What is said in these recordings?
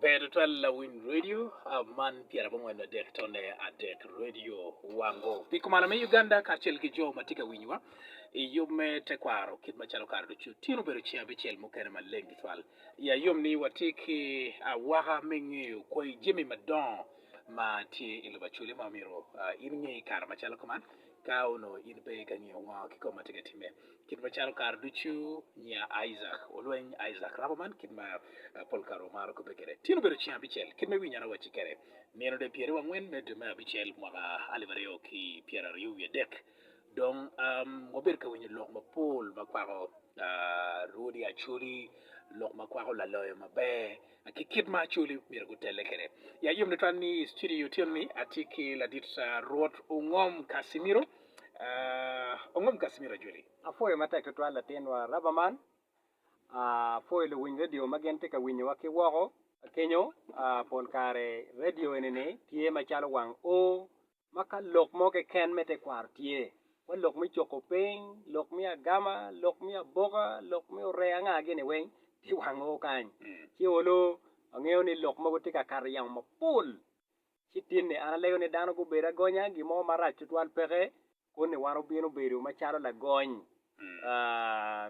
Ber tutwal lawiny radio ah, man pyera bongwen adek tone adek radio wango pi kumalo me Uganda kacel ki jo ma tye ka winywa i yub me tekwaro kit macalo kare ducu tino bedo ceng abicel mukene maleng tutwal ya yom ni watye ki awaka me ngeyo kwai jami madongo ma tye i lobo acwele ma omyero ah, in nge i kare macalo kuman Ka onongo in pe ka ngiyo ngo ki kom ma tye ka timme kit ma calo kare ducu nya Isaac olweny Isaac rabo man kit ma pol kare wamaro kobbe kede tyen obedo cing abicel kit me winyo ana wacci kede nino de pyeri wangwen me dwe me abicel mwaka alip aryo ki pyera aryo wiye dek dong wabedo ka winyo lok mapol makwako rwodi acholi lok makwako laloyo maber ki kit ma Acholi myero gutelle kwede. Ya yom tutwal ni i studio otyeno ni atye ki ladit Rwot Ongom Casimiro. Uh, Ongom Casimiro Ajoli. Apwoyo matek tutwal latinwa raba man. Apwoyo luwiny redio ma gin tye ka winyowa ki woko kenyo. Uh, pol kare redio eni-ni tye macalo wang O ma ka lok mo keken me tekwaro tye, wa lok me coko piny, lok me agama, lok me aboka, lok me oree anga gini weng ti wango kany. Ci olo angeyo ni lok mogo ti ka kato i yamo mapol. Ci tin ni an alego ni dano gubedo agonya gin mo marac tutwal peke kun ni wan obino bedo macalo lagony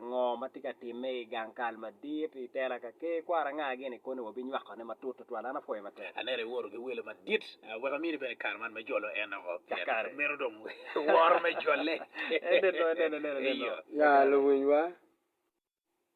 Ngo ma tye ka timme i gang kal madit i tela ka ker kwara anga gene koni wa binywakone matut tutwal an apwoyo matek. Anera iwoto ki welo madit wek amini bene kare man me jolo en oko pien meno dong woro me jole. Eneno eneno eneno eneno. Ya luwinywa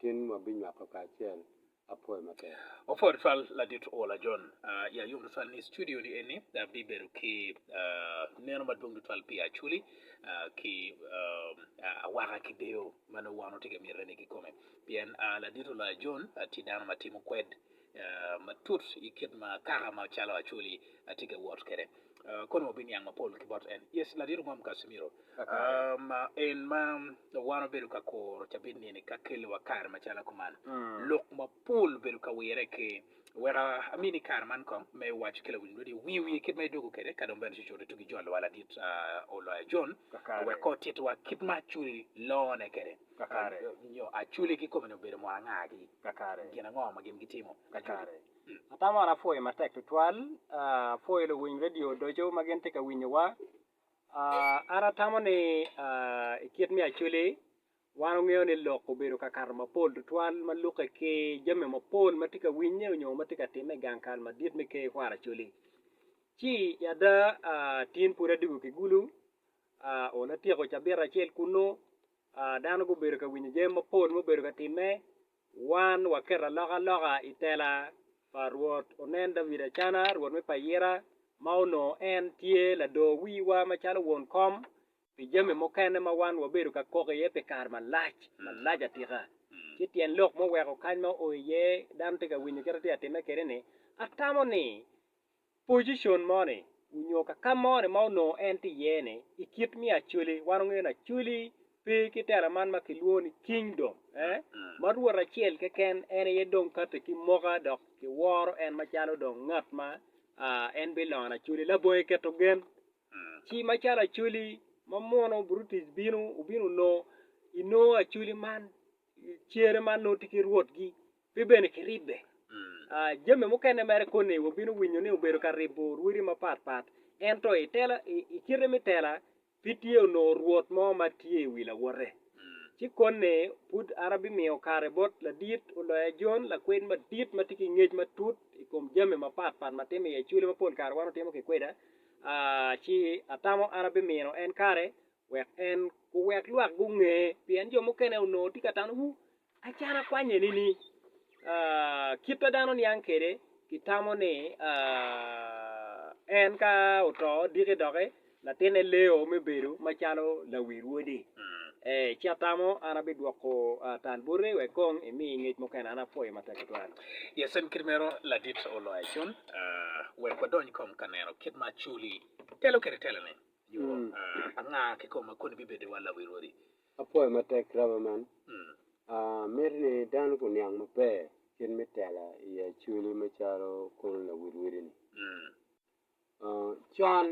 Tin wabinywako kacel apwoyo maber. Opwoyo twal ladit Ola John i ayub tutwal ni studio ni eni bibedo ki neno madwong tutwal pi Acholi ki awaka ki deyo ma nongo wan watye ka mite ni kikome pien ladit Ola John tye dano ma timo kwed matut i kit ma kaka ma calo Acholi tye ka wot kwede, kono wabiniang mapol ki bot en. Yes, Ladit Ogom Casimiro, ma en ma wan wabedo ka kuro cabit ni-ni ka kelowa kare macalo kuman, lok mapol obedo ka wirre ki, weka amini kare man kong me waco ki lawiny lweti wi wiye kit ma idwogo kwede ka dong bene cucut itugi ijolowa Ladit Oloya John wek kong otitwa kit ma Acholi lone kwede. Kakare, nyo acwele kikome-ni obedo mot angagi? Kakare, gin ango ma gin gitimo? Kakare, atamo ni apwoyo matek tutwal. Apwoyo luwiny redio odoco ma gin tye ka winyowa. An atamo ni i kit me acwele, wan ongeyo ni lok obedo ka kato mapol tutwal ma lukke ki jami mapol ma tye ka winye nyo ma tye ka timme i gang kal madit me Ker kwaro acwele. Ci i ada, tin pwod adwogo ki Gulu, onongo atyeko cabit acel kunnu. Dano gubedo ka winyo jami mapol ma obedo ka timme, wan waketo alokaloka i tela pa Rwot. Onen David Acana, rwot me payira, ma onongo en tye lador wiwa macalo won kom, pi jami mukene ma wan wabedo ka kok iye pi kare malac, malac atika. Ci tyen lok muweko kany ma oo iye dano tye ka winyo kit atye ka timme kwede-ni, Atamo ni pocicon moni onyo kakam moni ma onongo en tye iye ni i kit me Acholi, wan wangeyo ni Acholi pe ki tela man ma ki lwongo ni kingdom eh, ma Rwot acel keken en aye dong kati ki moka dok ki woro en macalo dong ngat ma ah en bilongo Acholi labonge keto gen ci macalo Acholi ma muno Brutus bino obino onongo inongo Acholi man Cer man nongo tye ki rwotgi, pe bene kiribbe. Jami mukene mere koni wabino winyo ni obedo ka ribo rwodi mapat pat. Ento i kite me tela, pe tye onongo rwot mo ma tye i wi lawote. Ci koni pud an abimiyo kare bot ladit oloya Jon, lakwed madit ma tye ki ngec matut i kom jami mapat pat ma timo i acwele ma pol kare wan watimo kikweda. Ci atamo an abimino en kare wek en kuwek lwak gunge, pien jo mukene onongo tye ka tano wu acana kwany eni ni, Kit ma dano niang kwede, kitamo ni en ka oto diki doki, latinne leo me bedo macalo lawil wode. Ci atamo an abidwoko tal boti wek kong imi ngec mukene. An apwoyo matek tutwal. Yes, en kit meno ladit oloya cun. Wek wadony kong ka neno kit ma Culi telo kwede telone. Yo anga kikome koni bibedo wa lawi rwodi? Apwoyo matek rabo man. Miti ni dano guniang maber kit me tela i Acholi macalo kono lawi rwodi-ni. Con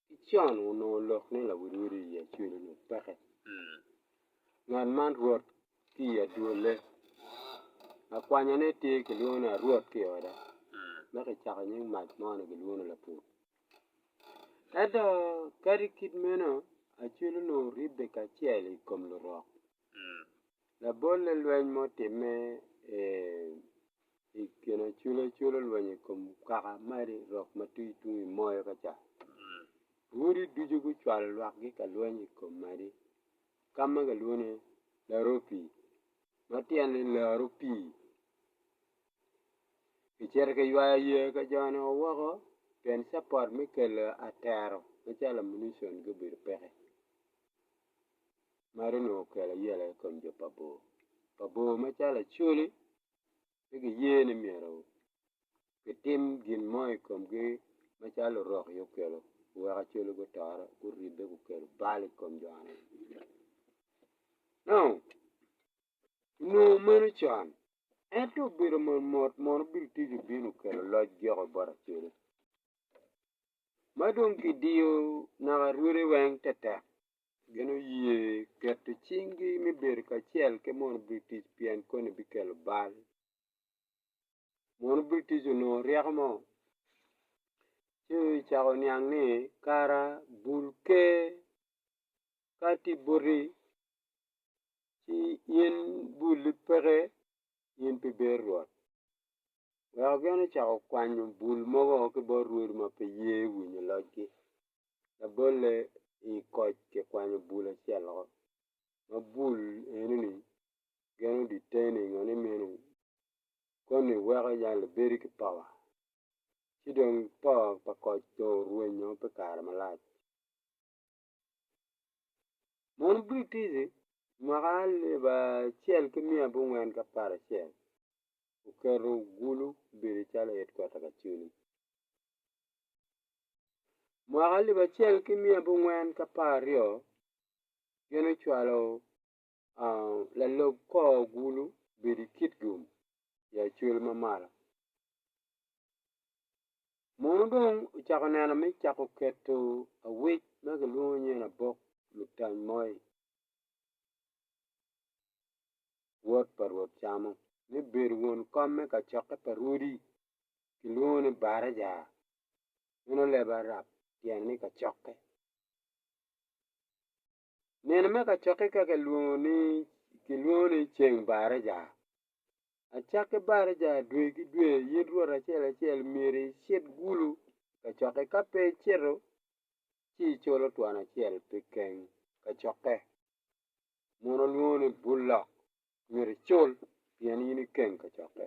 ki con onongo lok ni lawi rwodi i Acholi ni peke. Ngat man rwot ki i adwolle. Lakwanyane tye kilwongo ni arwot ki i oda ma kicako nying mac mo ni kilwongo ni lapur. Ento kadi kit meno, acwelo onongo ribbe kacel i kom Lurok. Labolle lweny ma otimme i kin acwelo acwelo lweny i kom kaka ma Lurok ma tye tung i moyo ka ca, odi ducu gucwalo lwakgi ka lweny i kom madi ka ma kilwongo ni Laropii ma tyene ni laro pii. Kicito kiywayo yeya ka jone o woko pien capot me kelo atero macalo ammunition gubedo peke meno onongo okelo ayela i kom jo pa bor, pa bor macalo Acholi pe giye ni myero kitim gin mo i komgi macalo Lurok aye okelo oweko Acholi gutore guribbe gukelo bal i kom jo-ni Onongo meno con, ento obedo motmot mono bino tic obino kelo loc joko bot Acelu. Ma dong kidiyo naka rwode weng tetek, gin oye keto cinggi me bedo kacel ki mono bino tic pien koni bikelo bal. Mono bino tic onongo ryeko mo ci ocako oniang ni kara bul ker ka tye boti. ci in bulli peke in pi ber Rwot. Weko gin ocako kwanyo bul mogo ki bot rwodi ma pe ye winyo locgi. Labolle i koc kikwanyo bul acel woko, ma bul eno-ni gin oditte-ni ngo ni meno koni weko jang libedi ki powa. Ci dong po pa koc dong orwenyo pi kare malac. Mon Britici mwaka alip acel ki miya abongwen ki apar acel oketo Gulu obedo calo hedkwata pa culu. Mwaka alip acel ki miya abongwen ki apar aryo gin ocwalo Lalub kor agulu bedo i kit gum i acwel ma malo. Mono dong ocako neno me cako keto awec ma kilwongo ni labok lutany moi, wod pa Rwot Camo, me bedo won kom me kacokke pa rwodi, kilwongo ni baraja. Meno leb Arab tyen ni kacokke. Nino me kacokke ka kilwongo ni kilwongo ni ceng baraja. Acakke baraja dwe ki dwe in rwot acel acel myero icit gulu i kacokke ka pe icito ci iculo twon acel pi keng kacokke muno lwongo ni bulok myero icul pien in ikeng kacokke.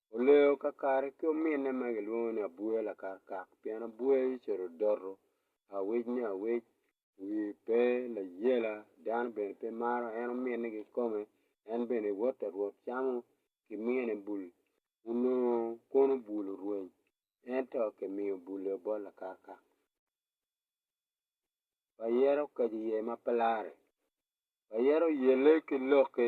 Oleyo kakare ki ominne ma gilwongo ni abwoya lakarkar pien abwoya yece odoto awec ni awec wiye pe layela dano bene pe maro en ominne kikome en bene woto rwot camo kimine bul onongo kono bul orweny ento kimiyo bul aye bot lakarkar ayera okaco iye ma pe lare ayera oyelle ki lokke.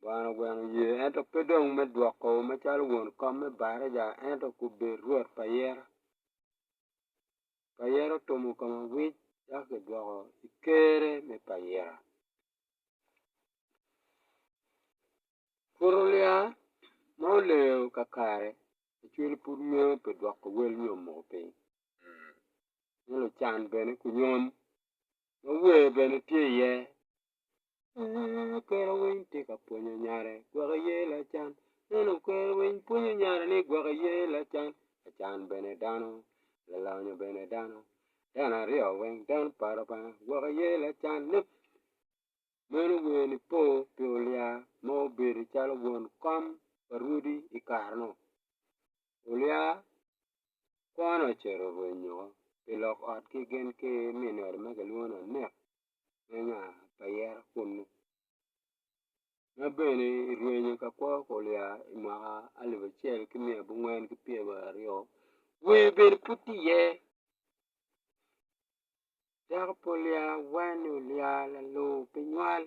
Bwana ogweno ye, ento pe dong me dwoko macalo won kom me baraja, ento kubed rwot pa yero. Pa yero otumo kome wic dok kidwoko i Ker-re me pa yero. Purulia ma oleyo kakare macwiny pud ngeyo pi dwoko wel nyo muko piny, nyo lucan bene kunyom ma wer bene tye iye Lalala kwero winy tye ka pwonyo nyare gwok aye lacan Nongo kwero winy pwonyo nyare ni gwok aye lacan Lacan bene dano, lalonyo bene dano Dano aryo weng dano pa Lubanga gwok aye lacan Meno wer ni po pi olia ma obedo calo won kom pa rwodi i kare-nu Olia kwone ocito rwenyo woko pi lok ot ki gin ki minere ma kilwongo ni anek. me nga pa yero kunu, ma bene irwenyo ka kwo kuliya i mwaka alip acel ki miya abongwen ki pyem aryo, wer bene pud tye iye, dako pe olyar wanni olyar lalor pe nywal,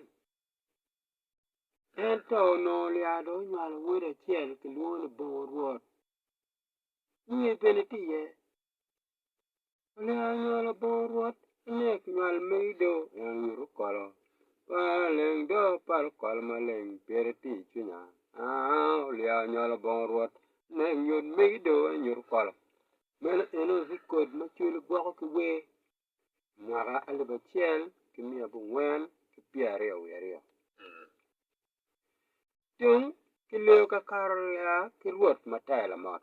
ento onongo olyar dong onywalo wod acel kilwongo ni bongo rwot, wer bene tye iye. Olingo anywalo abor rwot inek nywal magi do en nyuto kolo Par leng do paro kolo maleng pire tye I cwinya aa Olingo anywalo abor rwot inek nywal magi do en nyuto kolo Meno eno record ma cwalo gwoko ki wer mwaka alip acel ki miya abongwen ki pyeraryo wiye aryo Tung kileyo kakato aa ki rwot matek lamot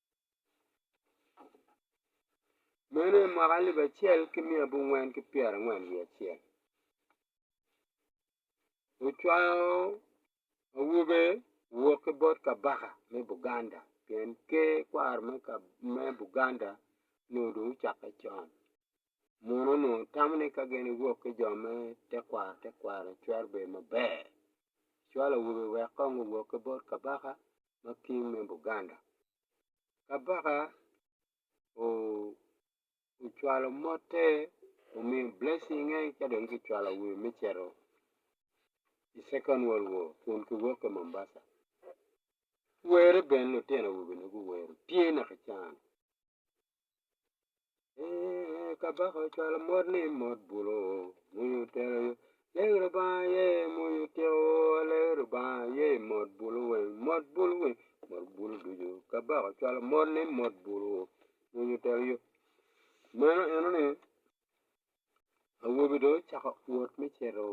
Meno en mwaka alip acel ki miya abongwen ki pyerangwen wiye acel, wucwango awobe wok ki bot kabaka me Buganda pien ker kwaro me Buganda nyo dong ocakke con. muno onongo tamo ni ka gin ewok ki jo me tekwaro tekwaro cwero bedo maber cwalo awobe wek kong owok ki bot kabaka ma king me Buganda. Kabaka ocwalo mote omiyo blessing-nge ka dong kicwalo awobe me cito i second world war kun kiwok ki Mumbasa were bene lutino awobe-ni guwero tye naka ican. Kabaka ocwalo mot ni mot bulo mony otero yo Lego Lubanga aye mony otyeko Lego Lubanga aye mot bulo weng mot bulo weng mot bulo ducu Kabaka ocwalo mot ni mot bulo mony otero yo Meno enoni awobi dong ocako wot me cito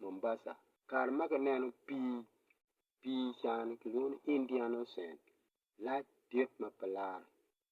Mumbasa kare ma kineno pii pii cani kilwongo ni Indian ocean lac dit ma pe lare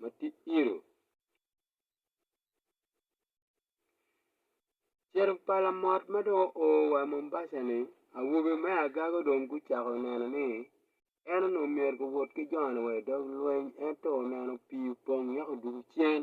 ma tye iro cito pa lamot ma dong oo wa i Mombasa ni awobe me agago dong gucako neno ni en onongo myero guwot ki joni wa i dog lweny ento oneno pii opong weko odwogo cen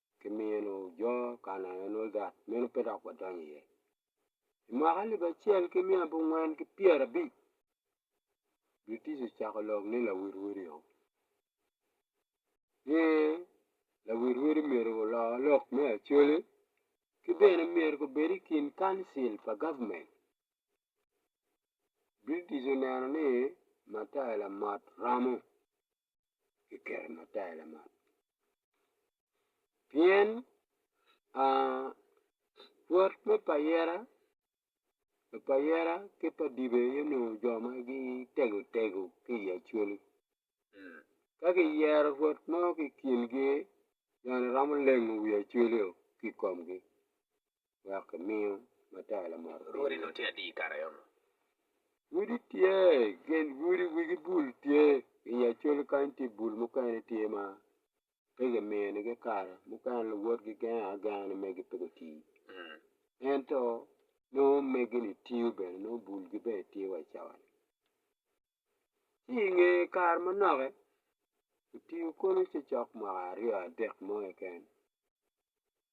ki mino jo Kanaan ma nongo got meno pe dok wadonyo iye. I mwaka alip acel ki miya abongwen ki pyerabic British ocako lok ni lawirwiri-o ni lawirwiri myero olor lok me Acholi ki bene myero gubed i kin Kancil pa gavmen. British oneno ni Matai Lamot romo. kiketo matar lamal pien rwot me payera pa payera ki pa dibe aye onongo jo ma gitego tego ki i Acholi ka kiyero rwot mo ki i kingi joni romo lengo wi Acholi-o ki i komgi. wek kimiyo matar lamot piny. Lwodi nongo tye adi i kare eno? Lwodi tye, gen lwodi wigi bul tye, i nge col kany tye bul mukene tye ma pe kimiyonigi kare, mukene luwot gigengo agenga ni megi pe guti. Ento nongo megi-ni tiyo bene, nongo bulgi bene tye wa i cawa-ni. Ci i nge kare manoki, kitiyo kono cocok mwaka aryo adek mo keken.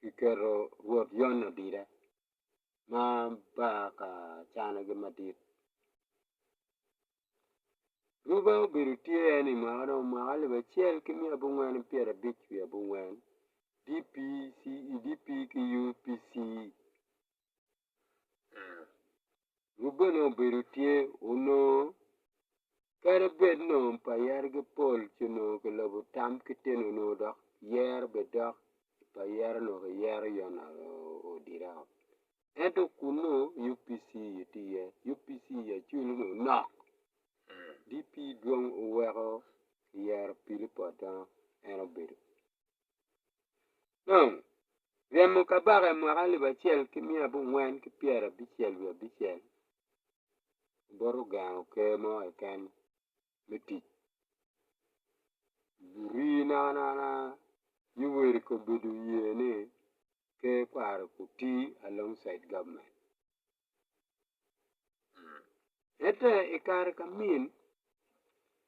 kiketo Rwot Yon adida, ma baa ka canogi madit. Ruba obedo tye en ni mwaka dong mwaka alip acel ki miya abongwen ki pyerabic wiye abongwen, DPCE, DP ki UPC. Gu bene obedo tye onongo kadi bed nongo pa yere-gi pol ci onongo ki lobo tam ki teni onongo dok yero be dok pa yere onongo ki yero yot na odire woko ento kunnu UPC aye tye iye UPC aye acwele onongo nok DP dong oweko yero Pilip Odono en obedo Dong, ryemo kabaka i mwaka alip acel ki miya abongwen ki pyerabicel wiye abicel bot ogengo ker mo keken me tic. Lurii naha naha Yoweric obedo oye ni ker kwaro oti along caid gavman. Ento i kare ka min,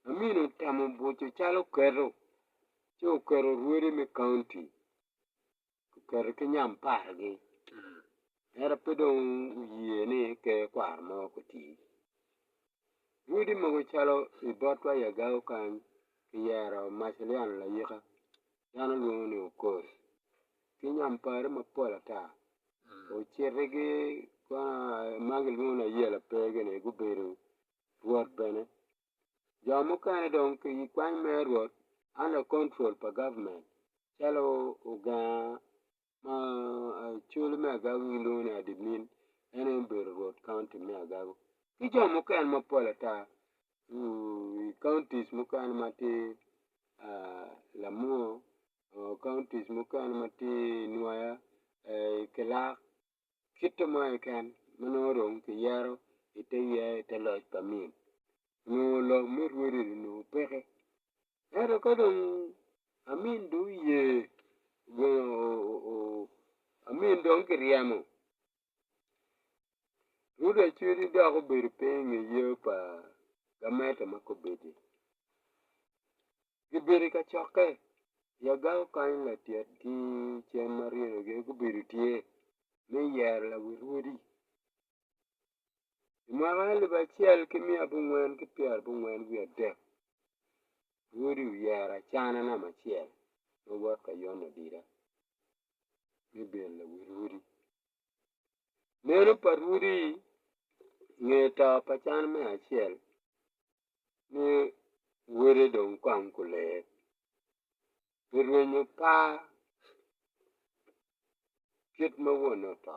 amin otemo buco cal oketo ci oketo orwodi me kaunti oketo ki nyampargi ento pe dong oye ni ker kwaro mo koti. Rwodi mogo calo i botwa i agau kany kiyero Macillian Layika dano lwongo ni Okoth ki nyampari mapol ata. ocitigi kwana ma kilwongo ni ayela pe gini gubedo rwot bene jo mukene dong ki i kwan me rwot under control pa government calo ogenga ma col me agagi gilwongo ni admin en aye obedo rwot county me agagi ki jo mukene mapol ata i counties mukene ma tye Lamur counties mukene ma tye i nwoya i kilak kite mo keken ma nongo dong kiyero ite ye ite loc pa Amin onongo lok me rwodini onongo peke ento ka dong Amin dong oye Amin dong kiryemo Yuda cwidi dok obedo piny i nge yeu pa gamente ma kobedi. Gibedo i kacokke i aganga kany latyetgi cen ma ryeno gin gubedo tye me yero lawil wodi. I mwaka alip acel ki miya abongwen ki pyera abongwen wiye adek wodi oyero acana namba acel ma wot ka yone adida. me bedo lawil odi. Meno pa rwodi nge to pa can me acel ni wode dong kwang gulee pi rwenyo par kit ma wonne oto.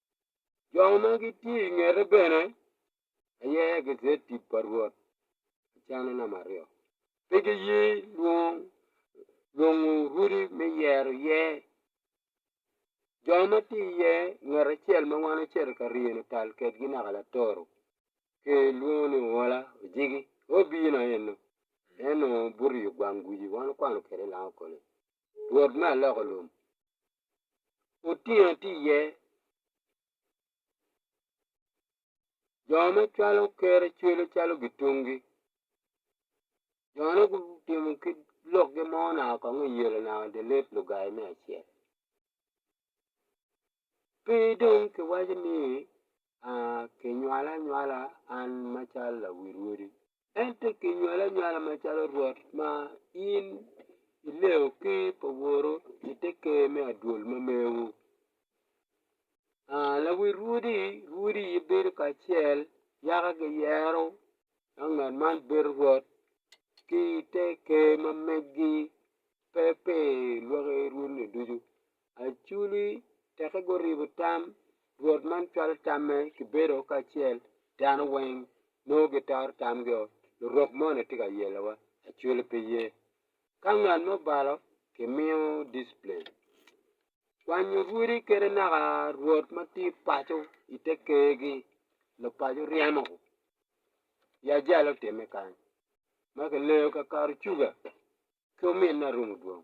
Jo ma gitye i ngete bene aye gitye tic pa Rwot ki canne namba aryo. Pe giye lwong lwongo rwodi me yero iye. Jo ma tye iye ngat acel ma wan ocito ka ryeno tal kwedgi naka latoro kilwongo ni Owola Ojiki aye obino eno. En onongo buto i ogwang guci wan wakwano kwede i Langakole. Rwot me aloko lum Otingo tye iye jo ma cwalo kere cwelo calo gitungi jone gutimo ki lokgi mo naka kong iyelo naka dye let lugai me acel pe dong kiwaco ni Kinywala anywala an macalo lawil wodi, ento kinywali anywala macalo Rwot ma in ilego ker pa woru i te ker me adwol ma mewu. Lawil wodi wodi gibedo kacel yaka giyero ma ngat man bedo Rwot ki te ker ma megi pe pi lwaki rwodni ducu. Achuli teke guribo tam, Rwot man cwalo tamme kibedo kacel, dano weng nongo gitoro tamgio, lurok moni tye ka yelowa, Achuli pe ye. Ka ngat mo balo, kimiyo disciplin. Kwanyo rwodi kede naka rwot ma tye i paco i te kergi, lupaco ryemo ya jalo otimme kany, ma kileyo kakato cuga ki ominne arumo dwong.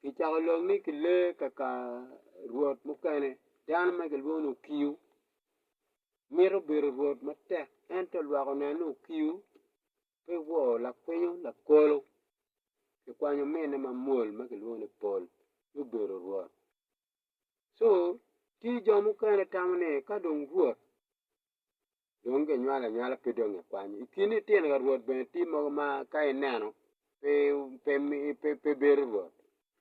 kicako lok ni ki lee kaka rwot mukene dano ma kilwongo ni okiu mito bedo rwot matek ento lwak oneno ni okiu pe wor lakwinyo lakolo kikwanyo ominne ma mwol ma kilwongo ni pol ci obedo rwot ci tye jo mukene tamo ni ka dong rwot dong ginywalo anywala pe dong gikwanyo. I kin litino ka Rwot bene tye mogo ma ka ineno pe pe pe pe bedo Rwot.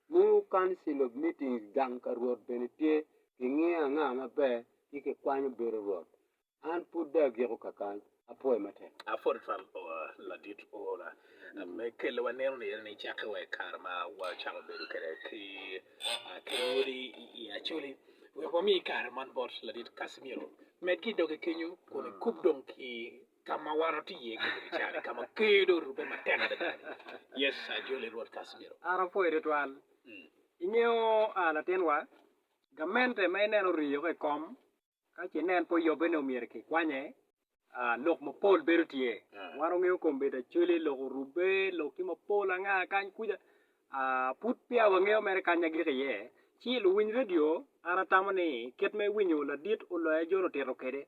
Nongo Council of Meetings gang ka Rwot bene tye kingiyo anga maber ci kikwanyo bedo Rwot. An pud dong agiko ka kany. Apwoyo matek. Apwod twam oo ladit ora me kelo waneno ni ene ni cakke wa i kare ma wacako bedo kede ki Kalwody i Acholi. Wek wami kare man bot ladit Casimiro. Med ki i doge kenyo kun ikub dong ki ka ma wan watye iye kede i cal-li, ka ma ker dong orubbe matek adada-ni. Yes, ajoli Rwot Casimiro. An apwoyi tutwal. Ingeyo latinwa, gamente ma ineno oriyo ka i kom Ka ce nen pe oyobbe ni omyero kikwanye, lok mapol bedo tye. Wan wangeyo kombeddi acwele, lok orubbe, lok tye mapol anga kany kuca. Pud peya wangeyo mere kany agik iye. Ci luwiny redio, an atamo ni kit ma iwinyo ladit oloya jo lutito kwede,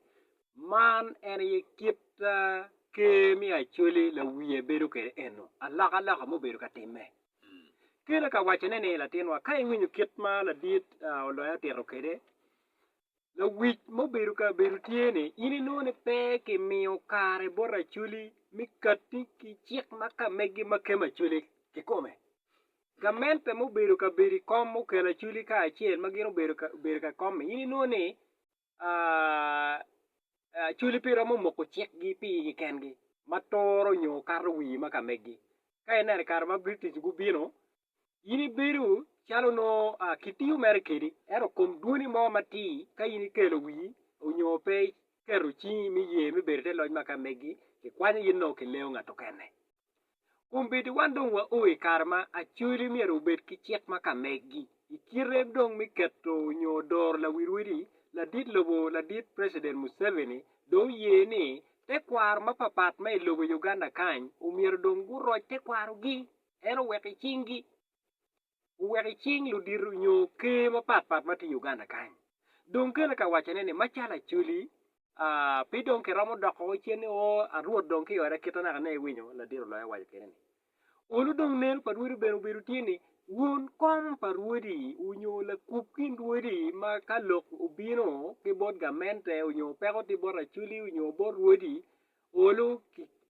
man en aye kit Ker me Acwele lawiye bedo kwede eno, alokaloka mubedo ka timme. Kela ka wacone ni, Latinwa, ka iwinyo kit ma ladit oloya otito kwede, Lawic ma obedo ka bedo tye ni in inongo ni pe ki miyo kare bot Acholi mi katti ki cik ma ka megi ma kema Acholi ki kome. Gamente ma obedo ka bedo i kom okelo Acholi kacel ma gin obedo ka bedo ka kom-mi in inongo ni Acholi pe romo moko cikgi pi igi kengi ma turo nyo kato wi ma ka megi. Ka ineno i kare ma British gubino In ibedo calo nongo kitiyo mere kedi ento kom dwoni mo matir ka in ikelo wii onyo pe iketo cingi me ye me bedo i te loc ma ka megi kikwanyo gin nongo kileyo ngat okene kombeddi wan dong wa oo ikare ma acoli myero obed ki cik ma ka megi ikite dong me keto onyo doro lawil wadi ladit lobo ladit president museveni dong oye ni tekwaro mapapat ma ilobo Uganda kany omyero dong guroc tekwaro gi en oweko i cinggi, oweko i cing ludito nyo ker mapat pat ma tye i Uganda kany. Dong kene ka wacone ni macalo Acholi pe dong kiromo doko woko cen ni oo Arwot dong ki ode kite naka ne iwinyo? Ladiro loyo owaco kene ni Olu dong neno pa Rwodi bene obedo tye ni won kom pa Rwodi onyo lakub kin Rwodi ma ka lok obino ki bot gamente onyo peko tye bot Acholi onyo bot Rwodi Olu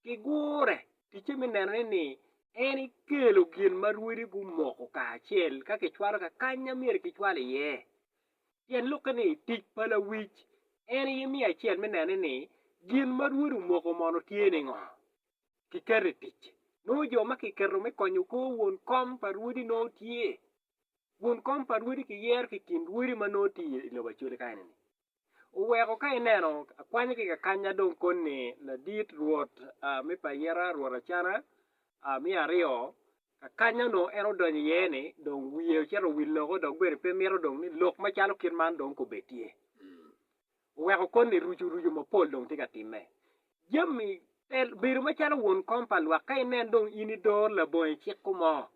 ki gure Ticce me neno ni ni en ekelo gin ma rwodi gumoko kacel ka kicwalo ka kany ma myero kicwal iye. Pien lukke ni tic pa lawic en aye me acel me neno ni gin ma rwodi omoko mono tye ningo kiketo i tic. Nongo jo ma kiketo me konyo kor won kom pa rwodi nongo tye. Won kom pa rwodi kiyero ki i kin rwodi ma nongo tye i lobo Acoli kany-ni. oweko ka ineno akwanya ki kakanya dong koni ladit rwot me payera rwot Acana me aryo kakanya onongo en odonyo iye ni dong wiye ocito owil loko dok bene pe mito dong ni lok macalo kit man dong kobed tye oweko koni rucu rucu mapol dong tye ka time jami bedo macalo won kom pa lwak ka inen dong in idoro labongo iciko mo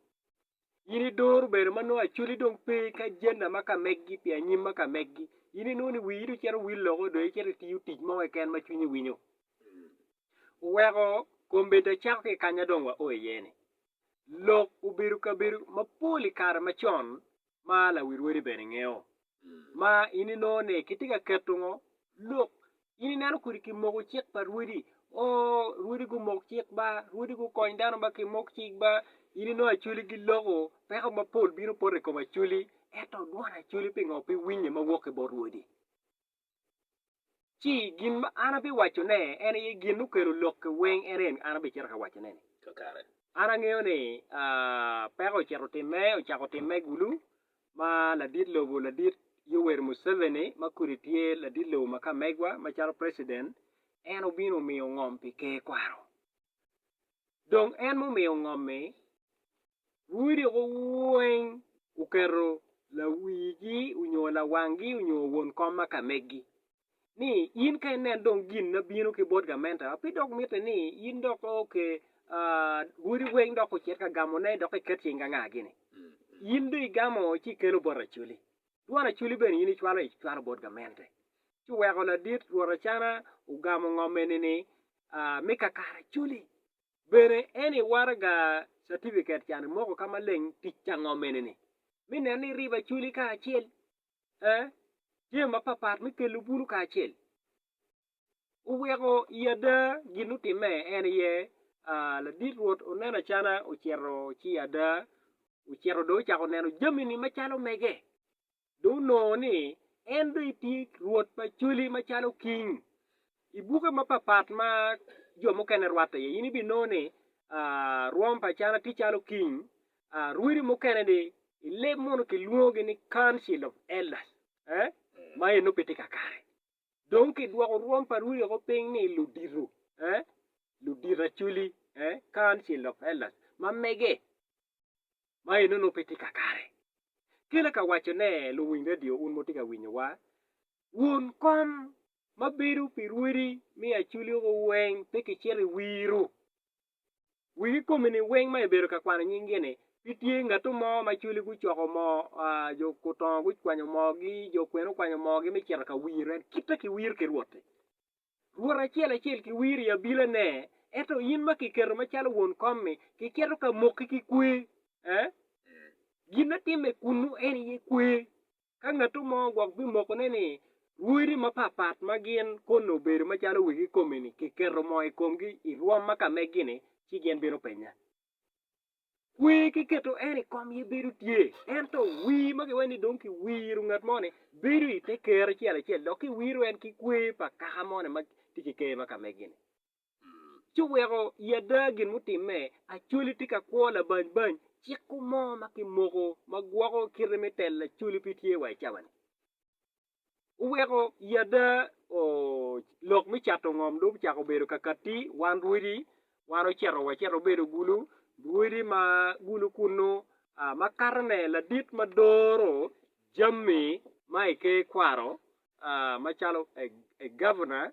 In idoro bene ma nongo acholi dong pe ki ajenda ma ka megi pi anyim ma ka megi. In inongo ni wii dong cito wil loko dong icito itiyo tic mo keken ma cwinyi winyo. Oweko kombeddi acako ki i kanya dong wao iye ni, lok obedo kabedo mapol i kare macon ma lawil wadi bene ngeyo. ma in inongo ni kitye ka keto ngo lok in ineno kodi ki moko cik pa rwodi ooh rwodi gumoko cik ba rwodi gukony dano ba ki moko cik ba in inongo acholi giloko peko mapol bino poto i kom acholi ento dwon acholi pingo pe winye ma wok ki bot rwodi. Ci gin ma an abiwaco ne en aye gin mukelo lok ki weng en en an abicito ka waco ne ni kakare. An angeyo ni aah peko ocito time ocako time gulu ma ladit lobo ladit Yoweri Museveni ma kodi tye ladit lobo ma kamegwa ma calo president en obino omiyo ngom pi ker kwaro. Dong en mumiyo ngom-mi Wudiko weng wuketo lawigi onyo lawangi onyo won kom ma ka megi, ni in ka inen dong gin ma bino ki bot gamente wa, pe dok mitte ni in dok oke odi weng dok ocit ka gamone dok iket cing ka nga gini. In dong igamo ci ikelo bot racoli, dwon racoli bene in icwalo icwalo bot gamente. Ci oweko ladit Rwot Acana ogamo ngom eni ni, Me kakare racoli. Bene en i waraga catipiket can moko ka maleng tic ango mene ni mi nen ni riba acoli ka acel eh jami mapapat me kelo bulu ka acel oweko i ada gin otime en aye ah ladit rwot oneno acana ocito ci ada ocito do ocako neno jami ni macalo mege. dong onongo ni en dong tye rwot pa cwali macalo king. I buke mapatpat ma jo mukene rwatte iye in ibinongo ni rwom pa Acana tye calo king, rwodi mukene ni i leb munu kilwongogi ni council of elders ma enno pe tye kakare. Dong kidwoko rwom pa Rwodi woko piny ni ludito, ee, ludito acoli, ee, council of elders, ma mege, ma eno nongo pe tye kakare. Kela ka waco ne luwiny radio un ma wutye ka winyo wa, won kom ma bedo pi Rwodi me acoli woko weng pe kicito i wiru. Wik i komi ni weng ma ibedo ka kwano nying gi ni pe tye ngatu mo ma cwali gucoko moo aa jo gutongo gukwanyo moo gi jo kwene okwanyo moo gi me cito ka wir en kita ki wir ki rwot ti rwot acel acel ki wir i abila ne ento in ma kiketo ma calo won kom mi ki keto ka moki ki kwe eh gin atimme kunu en aye kwe Ka ngatto mo gwok bimokone ni, Rwodi mapatpat ma gin koni obedo macalo wegi kikomi-ni kiketo moo i komgi i rwom ma ka megi-ni, ci gin bino penya. Kwer ki keto en i kom aye bedo tye, ento wir ma kiwaco ni dong kiwiro ngat mo-ni bedo i te ker acel acel dok kiwiro en ki kwer pa kaka mo-ni ma tye ki ker ma ka megi-ni. ci oweko i ada gin mutimme, Acholi tye ka kwo labany bany ciko mo ma kimoko ma gwoko kite me telo Acholi pe tye wa i cawa-ni. Oweko i ada lok me cato ngom dong ocako bedo kakatti, wan rwodi wan ocito wacito wabedo gulu, rwodi ma gulu kunnu ma katone ladit ma doro jami ma i ker kwaro macalo Gavna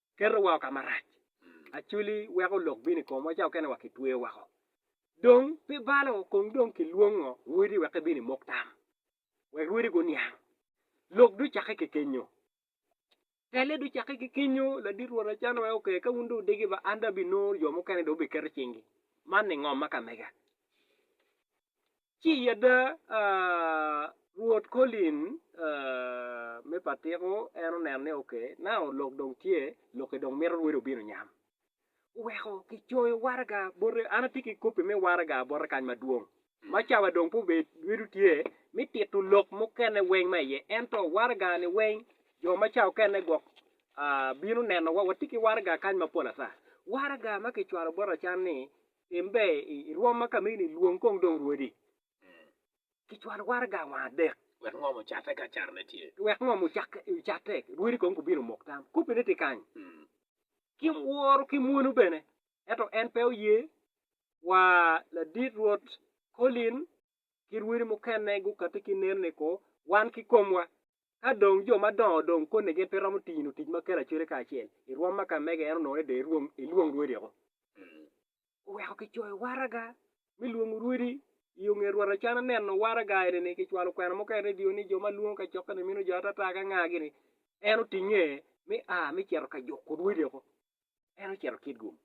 keto wa ka marac. Acoli weko lok bino i komwa ca okene wa kitweyo woko. Dong pi balo kong dong ki lwongo rwodi wek ebin i mok tam, wek rwodi guniang. Lok do cakke ki kenyo. Tele do cakke ki kenyo, ladit rwot Achan weko oke ka wun do wudegi ba an do abi nongo jo mukene do wubiketo cing gi. Man ni ngom ma ka mega. Ci yadda Rwot Colin me patiko en oneno ni oke, nao lok dong tye, lokke dong mito rwodi obino nyam. Oweko kicoyo waraga bote, an atye ki kopi me waraga bote kany madwong, ma cawa dong pe obedo rwedo tye me tito lok mukene weng ma iye, ento waraga-ni weng jo ma ca okene gwok bino nenowa, watye ki waraga kany mapol ata. Waraga ma kicwalo bota can ni Tim ber i rwom ma ka meni, lwong kong dong rwodi ki cwal waraga wang adek. Wek ngom ocatte ka carone tye. Wek ngom ocatte, rwodi kong gubin omok tam. Koppine tye kany. Ki woro ki mwonu bene. Ento en pe oye, wa ladit Rwot Colin ki rwodi mukene gukatti ki nen ni ko, wan ki komwa Ka dong jo madongo dong koni gin pe romo tino tic ma kelo acwele kacel, i rwom ma ka mege en onongo ni dong ilwong rwodi oko. Oweko kicoyo waraga me lwongo rwodi i onget rwot acan aneno waraga eni ni kicwalo kwena mogo i redio ni jo ma lwongo kacokke ni mino jo atata ka ngagi ni en otinge me a me cito ka juko rwodi oko en ocito Kitgum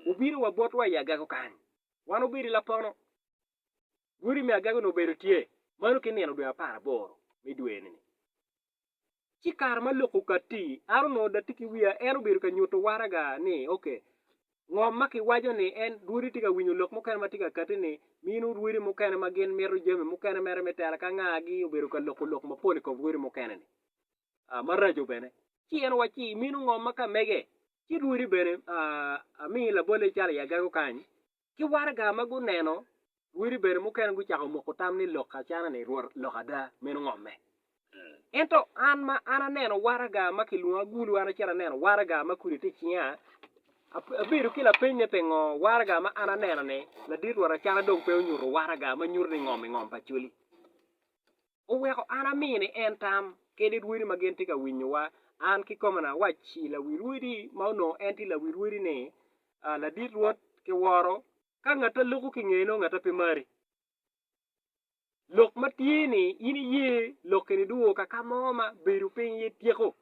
obino wa botwa i agago kany wan obedo i lapono Gudi me agagi onongo obedo tye mano ki nino dwe apar aboro me dweni-ni. Ci kare ma lok okatti, an onongo da tye ki wiya, en obedo ka nyuto waraga ni, Ok, ngom ma kiwaco ni en, Rwodi tye ka winyo lok mukene ma tye ka katti-ni, mino rwodi mukene ma gin mito jami mukene mere me tela ka nga gi obedo ka loko lok mapol i kom rwodi mukene-ni maraco bene. Ci en owacci ni, Imino ngom ma ka mege, ci rwodi bene, a, amii labolle calo i agagi okany, ki waraga ma guneno wodi bene mukene gucako moko tam ni lok acanani Rwot lok ada, meno ngomme. Ento an ma an aneno waraga ma kilwongo agulu, an acito aneno waraga ma kudi tye i cinga, abedo ki lapeny ni pingo waraga ma an aneno-ni ladit Rwot acana dong pe onyuto waraga ma nyuto ni ngom i ngom pa coli. oweko an ami ni en tam kede rwodi ma gin tye ka winyowa. An kikome ni awacci lawi rwodi ma onongo en tye lawi rwodi ni, Ladit Rwot, kiworo ka ngatta loko ki ngeye nongo ngatta pe mari. Lok ma tye ni in iye lokke-ni duwo ka ka mo ma bedo piny aye tyeko?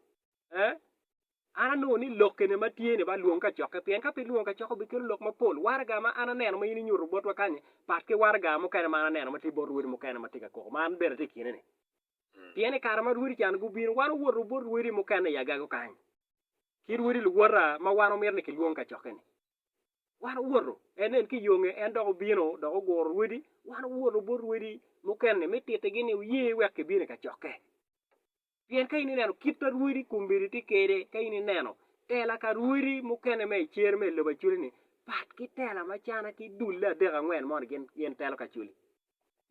An anongo ni lok kene ma tye-ni ba lwong kacokke, pien ka pe lwongo kacokke obikelo lok mapol. Waraga ma an aneno ma in inyuto botwa kany-ni pat ki waraga mukene ma an aneno ma tye bot rwodi mukene ma tye ka koko ma an bene atye i kine-ni. Pien i kare ma rwodi ca-ni gubino, wan owoto bot rwodi mukene i agago kany, ki rwodi luwota ma wan omito ni kilwong kacokke-ni. Wan owoto, en nen ki yonge, en dok obino dok oguro rwodi, wan owoto bot rwodi mukene-ni me tittigi ni wuye wek kibino i kacokke. Pien ka in ineno kit ma rwodi kombeddi tye kwede, ka in ineno tela ka rwodi mukene ma i cer ma i lobo acoli-ni, pat ki tela ma cana ki dulle adek angwen moni gin telo ki acoli.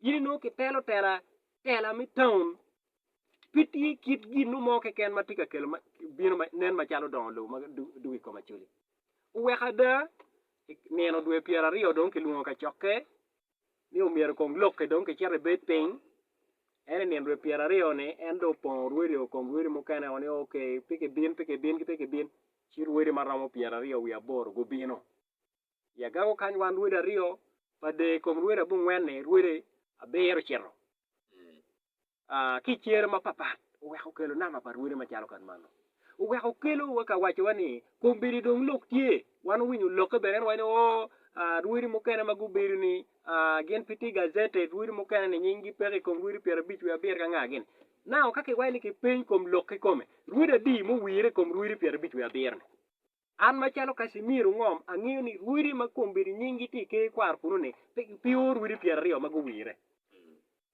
In inongo kitelo tela, tela me taun, pe tye kit gin mo keken ma tye ka kelo bino ma nen macalo dongo lobo ma dwogo i kom acoli. Oweko ada, i nino dwe pyeraryo dong kilwongo kacokke ni omyero kong lokke dong kicit ebed piny en i nino dwe pyera aryo ni en dong opongo orwedi o kom rwedi mukene o ni ok pe ki bin pe ki bin ki pe ki bin ci rwedi ma romo pyera aryo wiye aboro gubino i agako kany wan rwedi aryo pa de i kom rwedi abongwen ni rwedi abiro cito ki i cer mapapat oweko okelo nama pa rwode macalo kan mano. Oweko okelo wa ka waco wa ni kombeddi dong lok tye. Wan owinyo olokke bene en waco ni oo rwodi mukene ma gubedo ni gin pe tye gazetted rwodi mukene ni nying gi peke i kom rwodi pyer abic wiye abiro ka nga gini. Now ka ki waco ni ki peny kom lok kikome rwodi adi ma owire i kom rwodi pyer abic wiye abiro ni? An macalo Casimir ongom angeyo ni rwodi ma kong bedo nying gi tye i ker ikwaro kunu ni pe ki pio rwodi pyer aryo ma guwire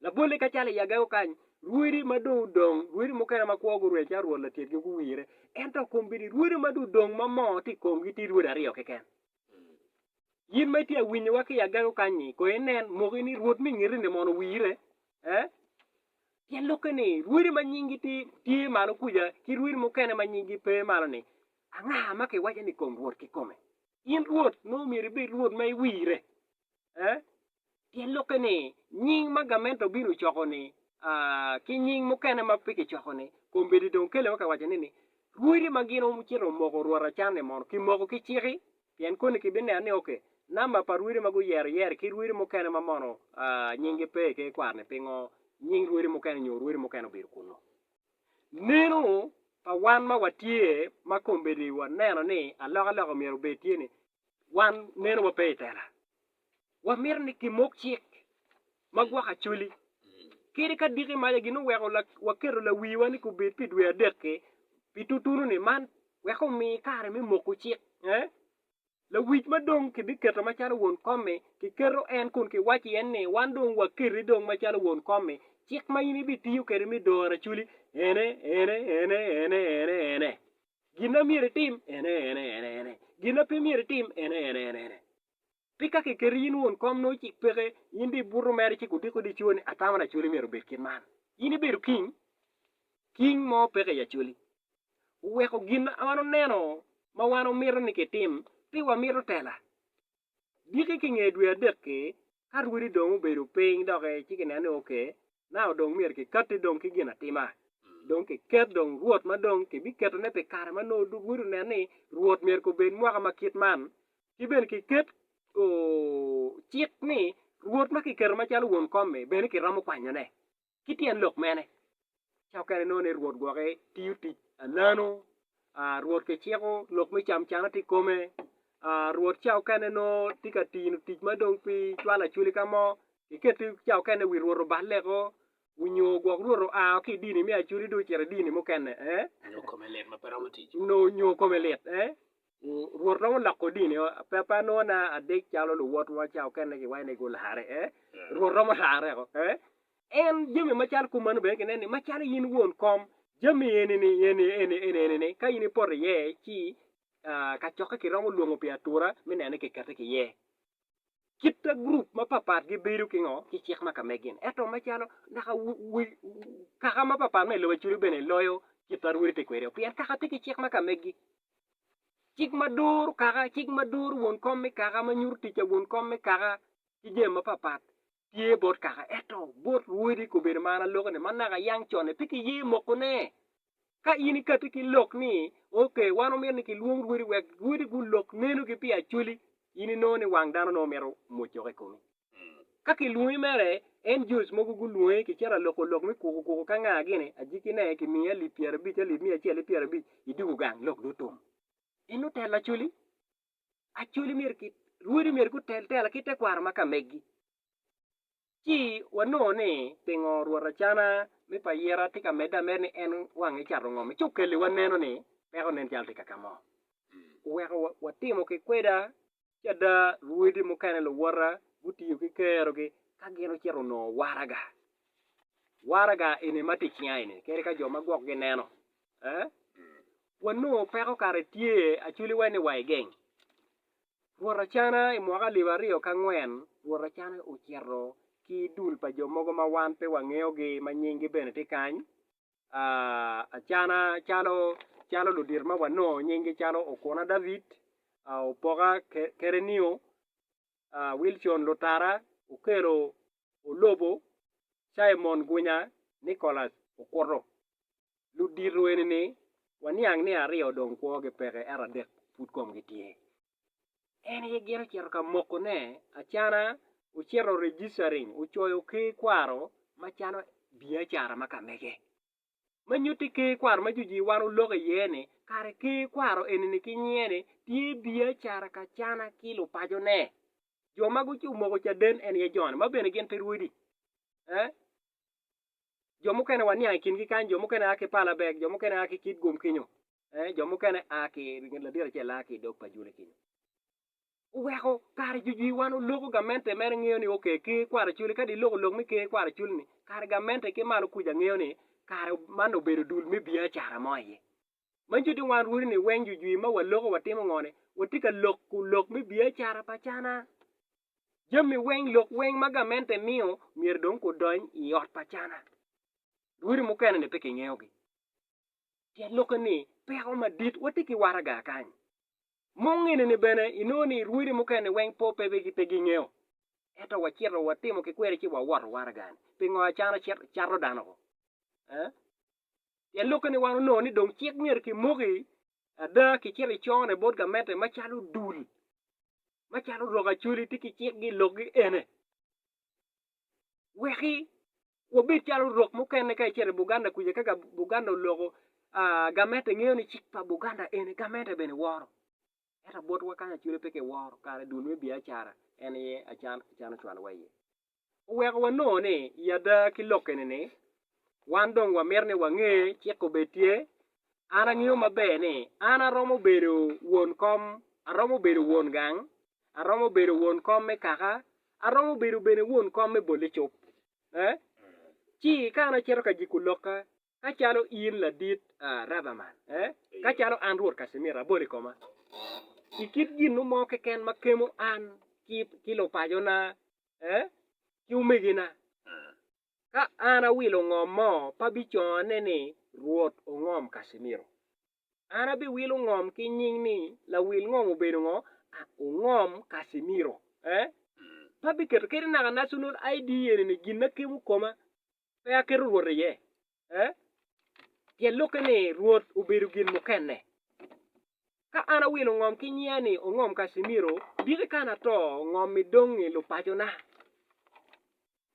labolle ka calo i agego kany rwodi ma dong odong rwodi mukene ma kwo gurwel calo rwod latyet gi guwire ento kong bedo i rwodi ma dong odong ma moo tye i kong gi tye rwodi aryo keken. Yin ma itye awinyo wa ki i agego kany ni kong inen moki ni rwod mi ngeti ni mono owire eh pien lok ki ni rwodi ma nying gi tye malo kuja ki rwodi mukene ma nying gi pe malo ni Anga ma kiwaco ni kom Rwot kikome? In Rwot nongo myero ibed Rwot ma iwirre. Ee, pien lokke ni nying ma gamente obino ocoko-ni ki nying mukene ma pe kicoko-ni, kombeddi dong kele ma kiwaco ni, Rwodi ma gin ocito omoko Rwot acan-ni mono kimoko ki ciki? Pien koni kibineno ni oke namba pa rwodi ma guyero iye-ri ki rwodi mukene ma mono nyinggi pe i ker kwar-ni. Pingo nying rwodi mukene nyo rwodi mukene obedo kunnu? Neno pa wan ma watye ma kombeddi waneno ni alokaloka myero obed tye ni wan nenowa pe i tela. Wamito ni kimok cik ma gwoko acoli. Kadi ka diki maca gin oweko waketo lawiwa ni kubed pi dwe adek-ki pi tutunu-ni man wek omi kare me moko cik. Lawic ma dong kibiketo macalo won kom-mi, kiketo en kun kiwaco iye ni, Wan dong waketi dong macalo won kom-mi. Cik ma in ibitiyo kwede me doro aracoli ene, ene, ene, ene, ene, ene. Gin ma myero itim ene, ene, ene, ene. Gin ma pe myero itim ene, ene, ene, ene. Pi ka kiketi in won kom nongo cik peke, in dong ibuto mere ci gudiko dico ni atamo aracoli myero obed kit man. In ibedo king, king mo peke i acoli. oweko gin ma en oneno ma wan omito ni kitim pi wamito tela. Diki ki nge dwe adek-ki, ka rwodi dong obedo piny doki ci kineno ni ok, nau dong myero kikatti dong ki ginatima. Dong kiket dong Rwot ma dong kibiketone pi kare ma nongo rwodi oneno ni Rwot myero kobed mwaka ma kit man. Ki bene kiket cik ni Rwot ma kiketo macalo won kom-mi bene kiromo kwanyone. Ki tyen lok mene, cokere nongo ni Rwot gwoke tiyo tic alano, Rwot kiciko lok me camcana tye i kome, Rwot ca okene nongo tye ka tino tic ma dong pi cwalo acwali ka mo, kiketo ca okene wi Rwot oballe oko, nyo gwok Rwot oa woko ki i dini me acwali dong ocito i dini mukene, nyo kome lit, ee? Rwot nongo oloko dini o, pe pe anongo na adek calo luwotwa ca okene ki wai ni gularre e. Rwot romo larre eko e. En jami macalo kop mano bene ginen ni macalo in won kom jami eni ni eni eni eni eni ni ka in ipoto iye ci kacokke kiromo lwongo pi atura me neno ni kikete ki iye. Kitta gurup mapapat gibedo ki ngo? Ki cik ma ka megi ni. Eto macalo naka kaka mapapat me lobo acudu bene loyo kit ma rwodi tye kwede o pien kaka tye ki cik ma ka megi. Cik ma duru kaka, cik ma duru won kom me kaka, ma nyuto tic pa won kom me kaka ki jami mapapat. tye bot kaka ento bot rwodi kobedo mar aloke-ni ma naka yang con-ni pe kiye mokone. Ka in ikatti ki lok ni, Ok, wan wamito ni kilwong rwodi wek rwodi gulok nenogi pi acwali, in inongo ni wang dano nongo mito mwoccoka i komi. Ka kilwongi mere, en Jewic mogo gulwongi, kicito aloko lok me kuku kuku ka nga gini, ajikkine, kimiyi alip pyerabic, alip miya acel ki pyerabic, idwogo gang, lok dong otum. In nutelo acwali? Acholi myero ki rwodi myero gutel tela ki tekwaro ma ka megi. Ci wanongo ni pingo Rwot Acana me pa Yera tye ka medde ameda ni en wange cato ngom-mi? Ci okelle waneno ni peko nen calo tye ka kamo. Oweko watimo ki kweda ci ada rwodi mukene luwota gutiyo ki kerogi ka gin ocito onongo waraga. Waraga eni ma tye icinga eni kadi ka jo ma gwok gineno eh? Wanongo peko kare tye aculi wene wa igeng. Rwot Acana i mwaka alip aryo ki angwen, Rwot Acana ocito ki dul pa jo mogo ma wan pe wangeyogi ma nyinggi bene tye kany, ah, Acana, calo, calo ludito ma wanongo nyinggi calo Okuna David, ah, Opoka Ke, Kerenio, ah, Wilcon Lutara, Okelo Olobo, Caimon Gunya, Nicholas Okuto. ludito eni ni, Waniang ni aryo dong kwogi peke ento adek pud komgi tye. En aye gin ocito ka mokone acana, ocito registering, ocoyo ker kwaro macalo biacara ma ka mege. Ma nyutti ker kwaro ma jojir wan oloko iye ni kare ker kwaro eni ni ki nyinge ni tye biacara ka cana ki lupaco ne. Jo ma omoko caden en aye jo ni ma bene gin pe rwodi. Eh? jo mukene waniang i kingi kany, jo mukene a ki Palabeg, jo mukene a ki Kitgum kenyo, ee, jo mukene a ki nget ladit acel a ki i dog pa Jule kenyo. Oweko kare jujwi wan oloko gamente mere ngeyo ni oke ker kwara culi, kadi iloko lok me ker kwara culi ni kare gamente ki malo kuca ngeyo ni kare man obedo dul me biacara mo aye. Ma cuti wan rwodi ni weng jujwir ma waloko watimo ngo ne? Watye ka loko lok me biacara pa cana. Jami weng lok weng ma gamente miyo myero dong gudony i ot pa cana. Rwodi mukene ni pe ki ngeyo gi pien lok eni peko madit watye ki waraga kany. Mungene ni bene inongo ni rwodi mukene ni weng po pe pe gi ngeyo ento wa cito wa timo ki kweri ci wa woto waraga ni pingo acana cato dano ko? Eh Pien lok kene wan onongo ni dong cik myero kimoki ada kicito icone bot gamente macalo dul macalo rok acoli tye ki cikgi i lokgi ene. Weki wabed calo rok mukene ka icito i Buganda kuca ka Buganda oloko gamente ngeyo ni cik pa Buganda ene gamente bene woro ento botwa kany acwale pe kiworo kare dul me biacara en aye acalo ocwalowa iye. oweko wanongo ni i ada ki lok eni-ni, wan dong wamito ni wange cik obed tye, An angeyo maber ni an aromo bedo won kom, aromo bedo won gang, aromo bedo won kom me kaka, aromo bedo bene won kom me bolle cop. Ee, ci ka an acito ka jiko lokka, ka calo in ladit Rutherman, ee, ka calo an Rwot Casimir abolo i koma, i kit gin mo keken ma kemo an ki lupacona ki omegina, ka an awilo ngom mo pa bicongone ni Rwot ongom Casimiro. An abiwilo ngom ki nying ni lawil ngom obedo ngo? Ongom Casimiro. Pa biketo kadi naka National ID eni ni gin ma kemo koma. pe aketo Rwot iye, pien lukke ni Rwot obedo gin mukene. Ka an awilo ngom ki nyiya ni ongom Casimiro, diki ka an ato ngommi dong i lupacona?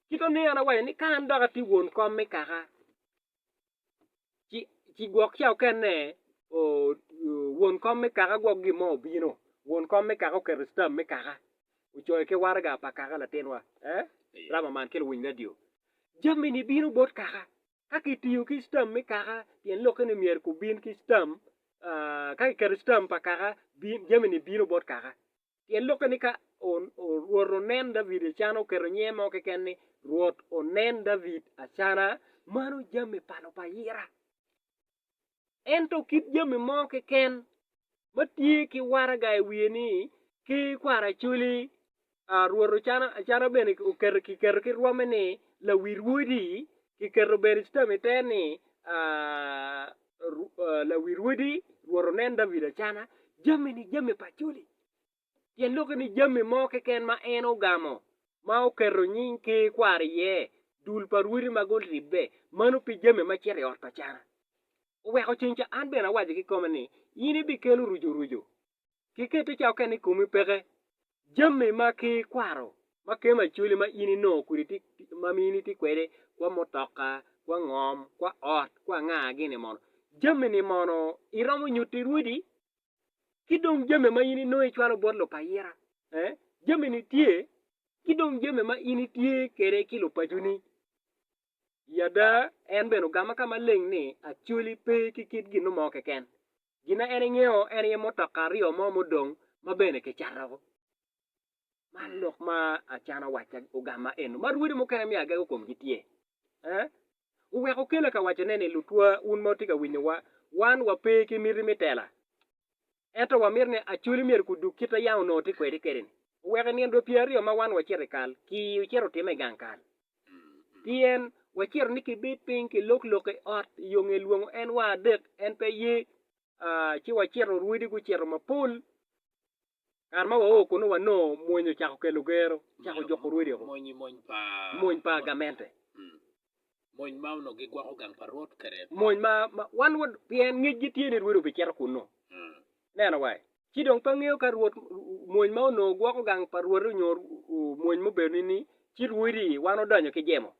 Kit oneno an awaco ni ka an dok atye won kom me kaka, ci gwok ca okene won kom me kaka gwok gin mo obino won kom me kaka oketo citam me kaka ocoyo ki waraga pa kaka latinwa rama man ki luwiny radio jami ni bino bot kaka ka kitiyo ki citam me kaka pien lokke ni myero gubin ki citam ka kiketo citam pa kaka jami ni bino bot kaka. Pien lukke ni ka Rwot onen David ecan oketo nyinge mo keken ni, Rwot onen David acana, mano jami pa lupayira. Ento kit jami mo keken ma tye ki waraga i wiye ni ki kwaracoli, Rwot ocano acana bene oketo kiketo ki rwome ni Lawirwodi, kiketo bene ci tamite ni, lawil odi rwot onen David acana jami-ni jami pa coli, pien lok ni jami mo keken ma en ogamo ma oketo nying ker kware iye, dul pa rwodi ma guribbe, mano pe jami ma cito i ot pa cana. Oweko ceng ca an bene awaco ki koma ni, In ibikelo rucurucu ki keti ca okene i komi peke jami ma ki kwaro ma kema acoli ma in inongo kodi ti ma in itye kwede kwa mutoka kwa ngom kwa ot kwa anga gini mono jami-ni mono iromo nyuti rwodi ki dong jami ma in inongo icwalo bot lupayira ee jami-ni tye ki dong jami ma in itye kede ki lupaconi I ada, en bene ogamo ka maleng ni, Acholi pe ki kit ginno mo keken. Gin ma en engeyo en aye mutoka aryo mo mudong ma bene kicato. Man lok ma acana wacca ogamma eno ma rwodi mukene me agege komgi tye. Eh? Oweko okela ka wacone ni, Lutwa, wun ma wutye ka winyowa, wan wape ki miti me tela. Ento wamito ni Acholi omyero kudug kit ayang onongo tye kwede kede-ni, oweko i nino dwe pyeraryo ma wan wacito i kal, kii ocito otime i gang kal. Pien wacito ni kibed piny kilok lok i ot i yo nge lwongo en wa adek, en pe ye, ci wacito orwedi gucito mapol. Kare ma wao kunnu wanongo mony ocako kelo gero, ocako juko orwedi-o, mony pa gamente. Mony ma onongo gigwoko gang pa Rwot kede pa. Mony ma, ma wan wa, pien ngecgi tye ni Rwot obicito kunnu. Neno wai. Ci dong pe angeyo ka Rwot, mony ma onongo gwoko gang pa Rwote nyo mony mubedo ni ni ci Rwodi wan odonyo ki jemo.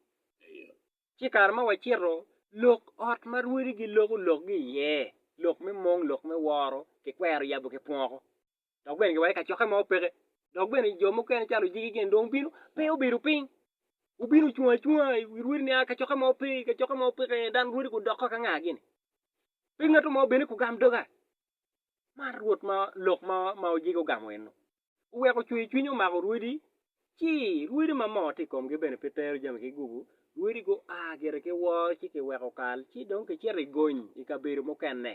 Eyo. Ci kare ma wacito, lok ot ma Rwodi giloko lokgi iye, lok me mong, lok me woro, kikwero yabo ki pwoko. dok bene giweke kacokke ma opeke. Dok bene jo mukene calo ojiki gin dong obino pe obedo piny, obino ocung acunga i rwodi nia kacokke ma ope i kacokke ma opeke iye dano rwodi gudokke ka nga gini. Pe ngat mo bene kugam doga. Man rwot ma lok ma ma ojiki ogamo eno. Oweko cwer cwiny omako rwodi ci rwodi ma moo tye i komgi bene pe tero jami ki gugu, rwodi gua gire ki woo ci kiweko kal ci dong kicito i gony i kabedo mukene.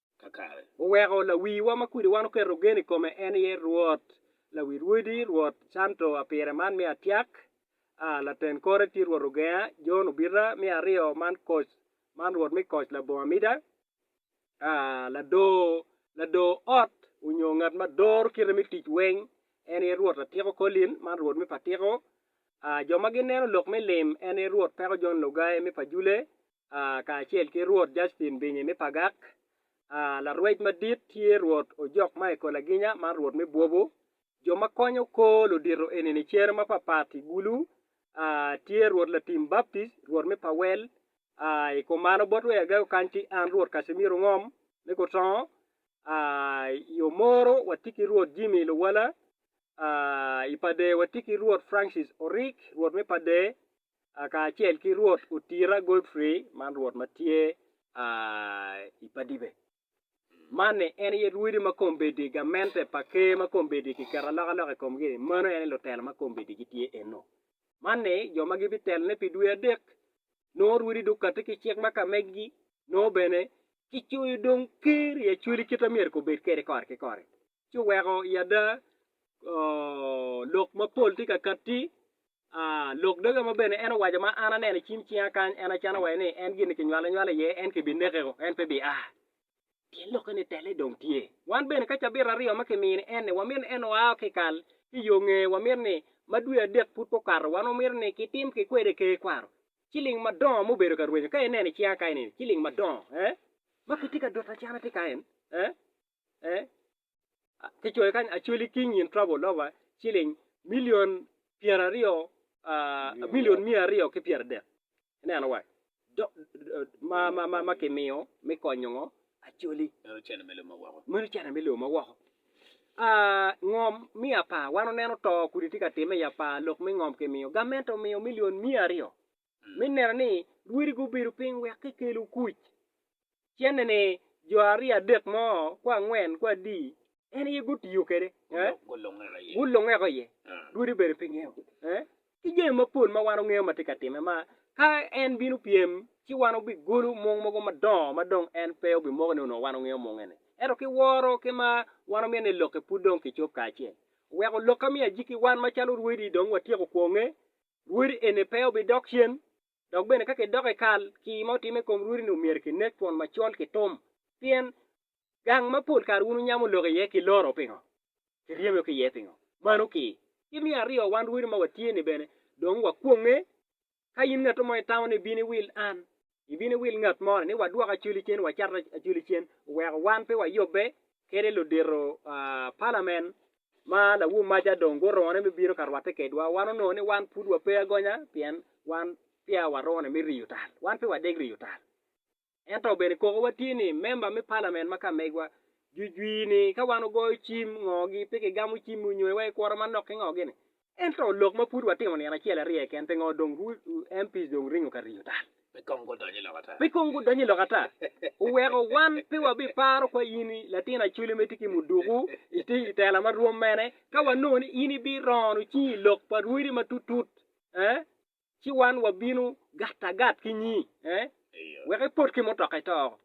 kakare. Oweko lawiwa ma kwede wan oketo gen i kome en aye Rwot, lawi rwodi, Rwot Canto apire man me atyak, a laten kore tye Rwot ogenga, Jon obita, me aryo man koc, man Rwot me koc labongo amida, a ladoo, ladoo ot onyo ngat ma doro kite me tic weng en aye Rwot atiko Collin, man Rwot me patiko, a jo ma gineno lok me lim en aye Rwot peko Jon Logai me pajule, kacel ki Rwot Jacpin Binyi me Pagak, larwec madit tye Rwot Ojok ma i Kolaginya ma Rwot me Bwobo, jo ma konyo kor ludito eni-ni cere mapapat i Gulu, tye Rwot Latim Baptis, Rwot me Pawel, i kom mano bot wek agego kany ki an Rwot Casimiro Ngom me Kutongo, i Omoro watye ki Rwot Jimmy Luwala, i Pader watye ki Rwot Francis Orik, Rwot me Pader, kacel ki Rwot otira Godfrey man Rwot ma tye i Padibe. Man-ni en aye Rwodi ma kombeddi, gamente pa Ker ma kombeddi kiketo alokaloka i komgi-ni, meno en aye lutelo ma kombeddi gitye eno. Man-ni jo ma gibitelone pi dwe adek, nongo Rwodi dong katti ki cik ma ka megi-gi, nongo bene kicoyo dong Ker i acwali kit ma myero kobed kwede kore ki kore. ci oweko i ada lok mapol tye ka katti, lok doge mo bene en owaco ma an aneno i cim cinga kany en acano waco ni en gin-ni kinywalo anywala iye en kibinekeo en pe bia. Pien lokke ni telle dong tye. Wan bene ka cabit aryo ma kimiyo ni en-ni wamito ni en oa ki i kal ki i yo nge wamito ni ma dwe adek pud pe okato wan wamito ni kitim ki kwede ker kwaro ciling madongo ma obedo ka rwenyo ka ineno i cinga kany-ni ciling madongo ma kitye ka doto acana tye kany. eh kicoyo kany Acholi King in trouble loka ciling milion pyera aryo milion miya aryo ki pyera adek ineno wa ma ma ma ma kimiyo me konyo ngo Acholi meno cene me luma woko meno cene me luma woko ah ngom me apar wan oneno to kudi tye ka time i apar lok me ngom kimiyo gamente omiyo milion miya aryo me neno ni rwodi gubedo piny wek kikelo kuc. Cennene, jo aryo adek mo ku angwen ku adi en aye gutiyo kwede, gulungeko iye, rwodi obedo pinye, ki jami mapol ma wan wangeyo ma tye ka timme ma ka en bino pyem ci wan wubigolo mung mogo madongo ma dong en pe obimoko ni onongo wan wangeyo munge-ni. Ento ki woro ki mar, wan wumito ni lokke pud dong kicob kacel. Wek olok ka me ajiki, wan macalo rwodi dong watyeko kwonge Rwodi eni pe obidok cen, dok bene ka kidoko i kal, kii ma otimme i kom rwodi-ni omyero kinek twon macol ki tum, pien gang ma pol kare wun wunyamo lok iye kiloro pingo? Kiryemo ki iye pingo? Mano kii. Ki me aryo, wan rwodi ma watye-ni bene dong wakwonge. Ka in ngatu mo itamo ni ibino iwil an, ibino wil ngat mo ni wadwok acwali cen wacat acwali cen oweko wan pe wayubbe kede ludito palamen ma lawomaca dong gurone me bino ka rwatte kedwa wan onongo ni wan pud wape agonya pien wan peya warone me riyo tal wan pe wadeg riyo tal ento bene kokowa tye ni memba me palamen ma ka megwa jujwir ni ka wan ogoyo cim ngo gi pe kigamo cim-mi onyo iwa ikuro manok ki ngo gini Ento lok ma pud watimo nino acel aryo keken, pingo dong MPs dong ringo ka riyo tal? Pe kong gudonyo i lok ata. Pe kong gudonyo i lok ata. Oweko wan pe wabiparo kwo in i latin Acholi ma itye ki muduku, itye i tela ma rwom mene, ka wanongo ni in ibirono cingi i lok pa rwodi ma tutut, eh, ci wan wabino gat agat ki nyi, eh, wek ipot ki mutoka ito oko.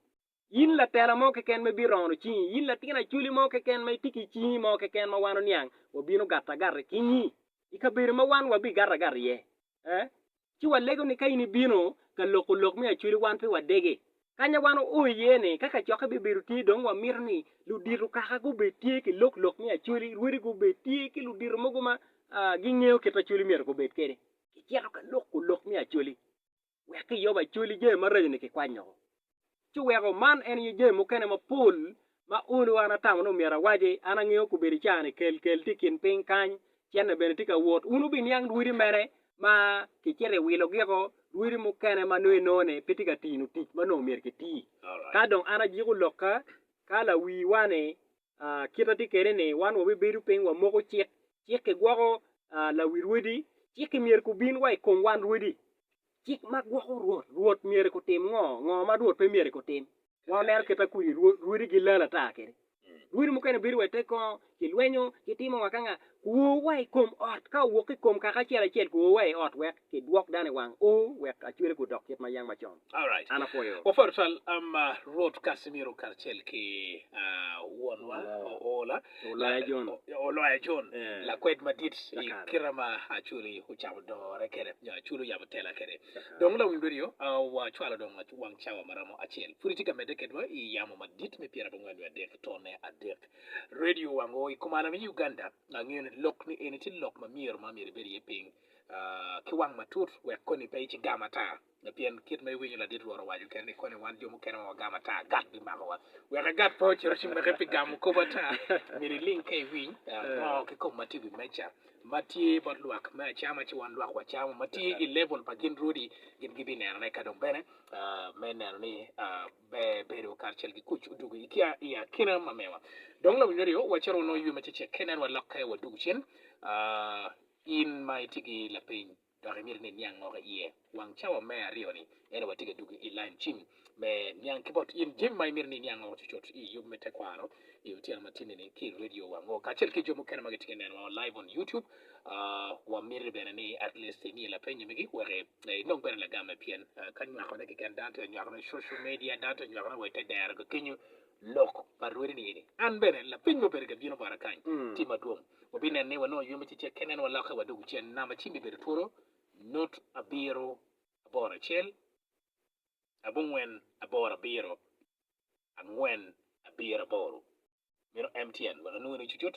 In latela mo keken ma ibito ono cingi? In latin acoli mo keken ma itye ki cingi mo keken ma wan oniang wabino gato agata i kingi? I kabedo ma wan wabigato agata iye, ee, ci walego ni ka in ibino ka loko lok me acoli wan pe wadege. Kanya wan oo iye ni ka kacokke bibedo tye dong wamito ni ludito kaka gubed tye ki lok lok me acoli, rwodi gubed tye ki ludito mogo ma gingeyo kit acoli myero gubed kwede. Kicito ka loko lok me acoli. wek Jehovah ecwali jami maraco-ni kikwanyo-gu. Ci weko man en aye jami mukene mapol ma olo an atamo ni myero awaci. An angeyo kobedo ca-ni kelkel tye i kin piny kany, cente bene tye ka wot. Wun wubiniang rwodi mere ma kicito iwilogi-o, rwodi mukene ma nongo inongo ni pe tye ka tino tic ma nongo myero kiti. Ka dong an ajiko lokka, ka lawiwa-ni kite atye kwede ni wan wabibedo piny wamoko cik, cik kigwoko lawi rwodi, cik myero gubin wa i kom wan rwodi. Cik ma gwoko rwot, rwot myero gutim ngo, ngo ma rwot pe myero gutim. Wan waneno kite kudi rwodi gilal ata kwede, rwodi mukene bedo wa i te kongo kilwenyo kitimo wa ka nga, guo wa i kom ot ka owok ki i kom kaka acel acel guo wa i ot wek Ki dwok dano i wang u wek acwele gu dok kit ma yang macon. An apwoyo. Wapwod twal ma Rwot Casimiro karacel ki wonwa Oola, Oloya John, Oloya John, lakwed madit i kite ma Acholi ocamo dore kwede nyo Acholi oyabo tela kwede. Dong lawiny redio wacwalo dong wang cawa ma romo acel pud itye ka medde kedwa i yamo madit me pyera abongwen nyo adek tone adek. Redio wang u i komane me Uganda angeyo ni lok ni eni tye lok ma myero ma myero ibed iye piny ki wang matut wek koni pe icigam ata, pien kit ma iwinyo ladit Rwot owaco kene ni, 'Koni wan jo mukene ma wagam ata, agat bimakowa. Wek agat pe ocit ocimaki pi gamo kop ata, myero iling ka iwiny ngo ki kong ma tye i wi meja ma tye bot lwak me acama ci wan lwak wacamo, ma tye i lebul pa gin rwodi, gin gibinenone ka dong bene me neno ni ber bedo karacel ki kuc odwogo i akina ma mewa. Dong lawinywa ryo wacito wanongo ywe ma cecek-ki, nen wa lokke wadwogo cen. In ma itye ki lapeny dok imito ni iniang ngo ki iye, wang cawa me aryo-ni en watye ka dwogo i lain cim me niang ki bot in jami ma imito ni iniang ngo cucut i yub me tekwaro i otyeno ma tyenni-ni ki i redio wa ngo kacel ki jo mukene ma gitye ka nenowa live on YouTube. Wamiti bene ni at least imiye lapeny magi wek inong bene lagame pien ka nywakone keken dano tye ka nywakone i social media, dano tye ka nywakone wa i te dero kenyu. Lok pa Rwede ni eni, An bene, lapeny ma obedo ka bino bota kany, tye madwong. Wabineno ni wanongo yom ci cek kene en walokke wa dog ocen nam acim bibedo twolo nut abiro aboro acel abongwen aboro abiro angwen abiro aboro. Meno MTN wek anongo ni cucut.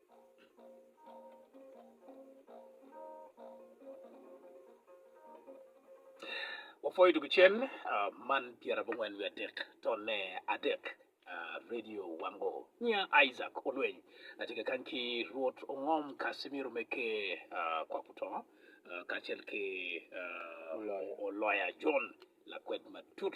Wapwoyo dwogo cen man pyerabongwen wiye adek tone adek radio wango nyinga Isaac Olweny atye ka kany ki Rwot Ongom Casimiro Meke kwap otongo kacel ki Oloya John lakwed matut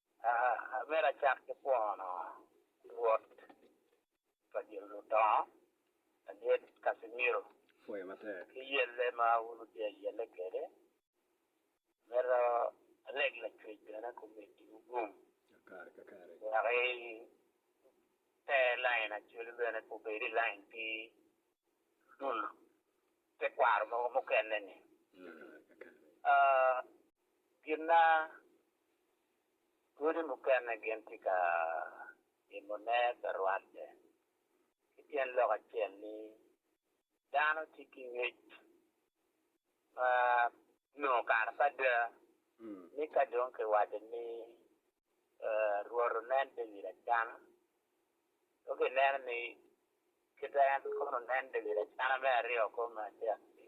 Aa, myero acak ki pwono Rwot pa gin ludongo ladit Casimiro ki yelle ma un otye yelle kwede. Myero aleg lacwec bene kumeddiwu gum, wek i te lain acwelu bene pe obed i lain pi ludul tekwaro mogo mukene-ni. Aa, Gin ma dwodi mukene gin tye ka timone pe rwatte ki tyen lok acel ni dano tye ki ngec ma nongo kare pe ada ni ka dong kiwaco ni Rwot onen David acana, dong kineno ni kit ma en kono oneno David acana me aryo kong me adek-ki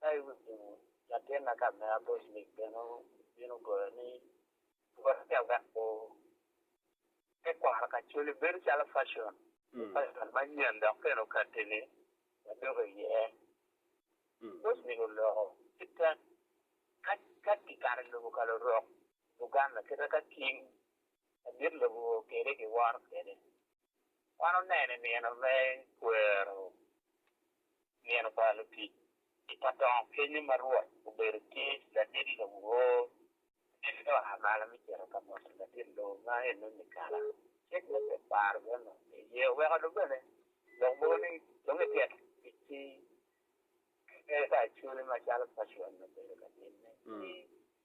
Ka iwinyo latinna ka me aboclik bene obino goyo ni Gwokke wek gu tekwaro kacoli bedo calo facon, facon manyen dok keno katini ma doko iye. Aboclik oloko kitte ka ka kikato ilobo ka lurok Buganda kita ka king madit lobo kwede giworo kwede. Wan oneno i nino me kwero nino pa lutic i ka dongo kenyo ma Rwot obedo tye ladit lowo, en dong oa malo me cito ka moto ladit lowo ma ene Mikala. Cik me Tekwaro bene onongo tye iye, oweko dong bene lok mogo ni dong ityek ticci ki kadi pa Acuri macalo Pacon obedo ka timme.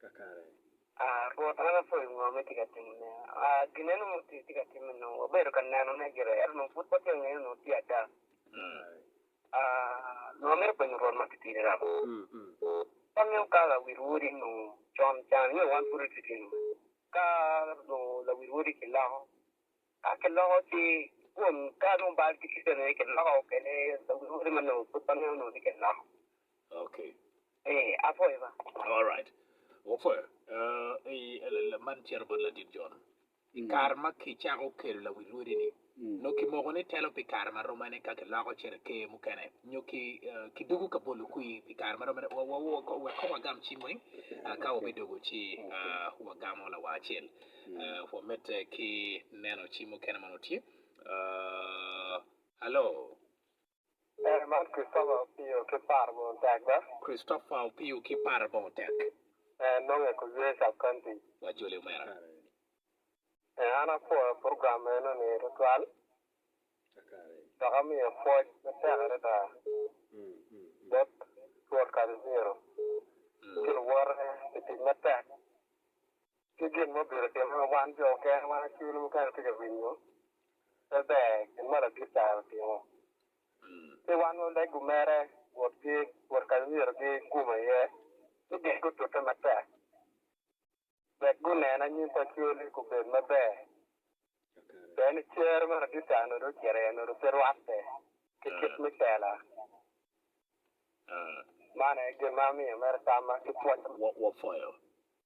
kakare. A Rwot, wan wapwoyo ngo ma itye ka timone. A Ginneno ma otye ka timme nongo wabedo ka nenone gire, ento nongo pud watye ka ngeyone nongo tye ada. A Nongo amito penyo Rwot ma titidi rab, Ka nongo ka lawil wodi nongo con can nyo wan pud watitino, ka nongo lawil wodi kiloko, Ka kiloko ki kun ka nongo bal tye ki kene kiloko kene lwote ma nongo pud waneno nongo ni kiloko. Okay. Ee, apwoyo ba. All right. Wapwoyo. Uh, i, la- man cito bot Ladit John. I kare ma kicako kelo lawi lwodi-ni, nongo kimoko ni telo pi kare ma romane ka kiloko cito ker mukene, nyo ki, uh, kidugu ka bolo kwi pi kare ma romane, wa, wa, wa, wek kong wagam cim weng, uh, ka wabidugu ci, uh, wagamo lawa acel. Pwoo medde ki neno ci mukene ma nongo tye. Hello. Ee man Christopher Opio ki Par Bongo Tek be. Christopher Opio ki Par Bongo Tek. Ee nonge ku ywe sub county. Wajoli omera. Ee an apwoyo program meno ni tutwal. Dok amiyo pwoc matek adada bot Rwot Casimiro ki luwote pi tic matek ki gin ma obito timone ma wan jo okene ma cwinywa mukene tye ka winyo pe ber, gin ma ladit kare otimo. Ci wan waleggo mere botgi bot ka ma myero gigum iye ci gin gutute matek wek gunen anyim pa cwelgi gubed maber. Pien ni cer ma ladit kare onongo dong ocito iye onongo dong pe rwatte ki kit me tela. Man aye gin ma amiyo mere tamma ki pwoc.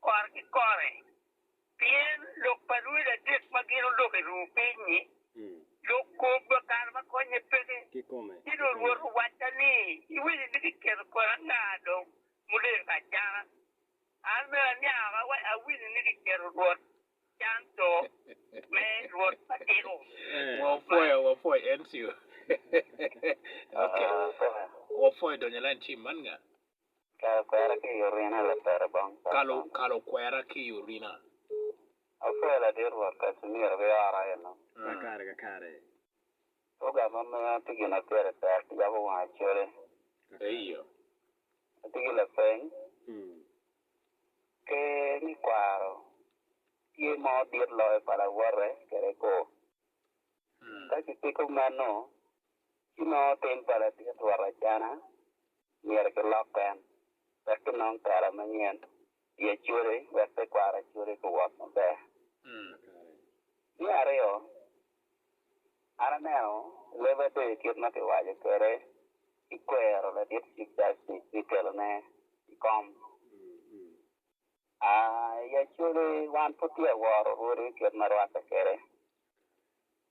kore ki kore, pien lok pa lwod adek ma gin oloko i ruu piny-nyi, lok kobba kare ma konye peke. Ci dong Rwot owacca ni, Iwinyo ni kiketo kodi anga dong muleyo ka acana? An bene aniang wa, awinyo ni kiketo Rwot can co me Rwot ma tiko. Wapwoyo, wapwoyo Encio. Wapwoyo donyo i lain cim man nga? Kalo kwera ki i orina lapera bong Kaka. Kalo, kalo kwera ki i orina. Apwoyo ladit Rwot Kacimiro ki ora aye no. Ma kare ka kare. Oga ma miya tye gin ma pire tek yabo wanga cwale. Eyo. Atye ki lapeny. Pe ni kwaro tye mo dit loyo pa lawote kede kor. Ka kipiko meno, Ci ma otim pa ladit rwot acana, myero kilok en, wek kinong tela manyen i Acodi, wek tekwaro Acodi guwot maber. Me aryo, an aneno i leb atir kit ma kiwaco kwede ki kwero ladit Chief Justice me kelone i kom. A I Acodi wan pud tye ka woro Rwodi kit ma rwatte kwede.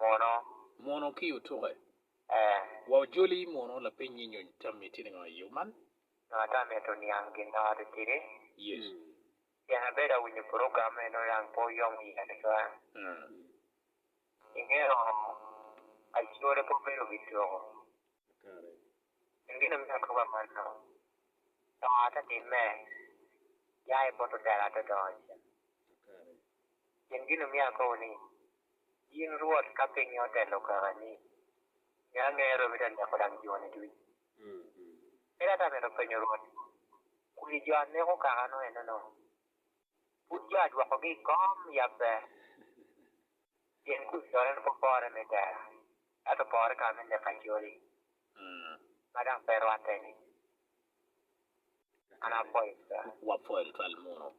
Mono. Mono ki otuke. Ee. Wa ojoli mono lapenyi nyo tammi tye ningo i yo man? Nyo ata mito niang ginnote tidi? Yes. Tyen abedo awinyo program me nongo dang pe oyomo iya tutwal. Ingeyo Acholi pe obedo wi tuko. Kare. Gin gin omiyo akobo amanno. To ata timme, ya ibot odero ata odongo iye. Kare. Gin gin omiyo akobo ni In Rwot, ka pinye otelo kakani, me angera obino ka neko dang joni ducu. Ento ata mito penyo Rwot ni, Kodi jo a neko kakano enono, pud jo a dwokogi i kom yabbe? Pien kodi correne pe opore me tera, ento opore kama me neko acoli, ma dang pe rwatte-ni. Wapwony twal muno.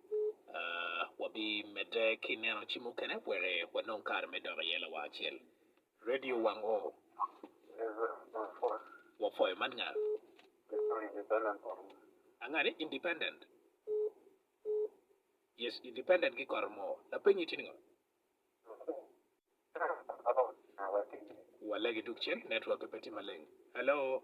Wabimedde ki neno ci mukene wek wanong kare me dok iye lawacel. Radio wang oo. Wapwoyo man nga? Angani? Independent? Yes, independent ki kore mo. Lapenyi tye ningo? Walegi duk cen, network pe tye maleng. Hello?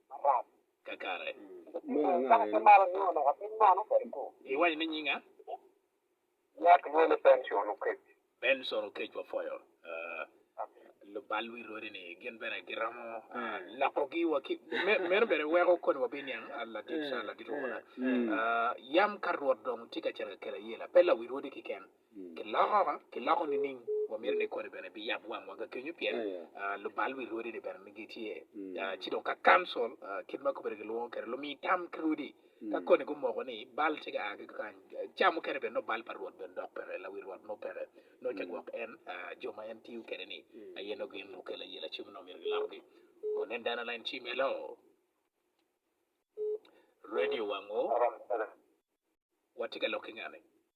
Kakare. Munu ango eno? Iwaco ni nying a? Benson Oketch wapwoyo lubalwi lwodi ni gin bene giromo lokogi wa ki meno bene weko kodi wa biniang ladit ladit owola yam ka Rwot dong tye ka cito ka kela yela pe lawilwodi kiken Kiloko, kiloko nining? Wamito ni koni bene biyab wangwa ka kenyo pien lubal wi rwodi ni bene gitye. Ci dong ka kancil kit ma kobene gilwongo kede lumi tam ki rwodi ka koni gumoko ni bal tye ka a ki kakany, ca mukene bene nongo bal pa rwot bene dok peke, lawi rwot nongo peke, nongo ca gwok en jo ma en tiyo kede ni aye nongo gin okelo aye lacim nongo myero gilokogi. Wunen dano lain ci myelo radio wangu watye ka lok ki ngani?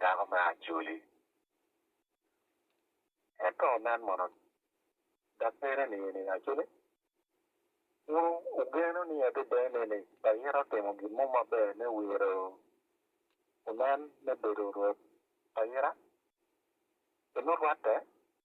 dako me Acoli. Ento nen mono, dok pire nining? Acoli pud ogeno ni adada nene ayito timo gin mo maber me wiro onen me bedo rwot pa ita? Pi nurwatte,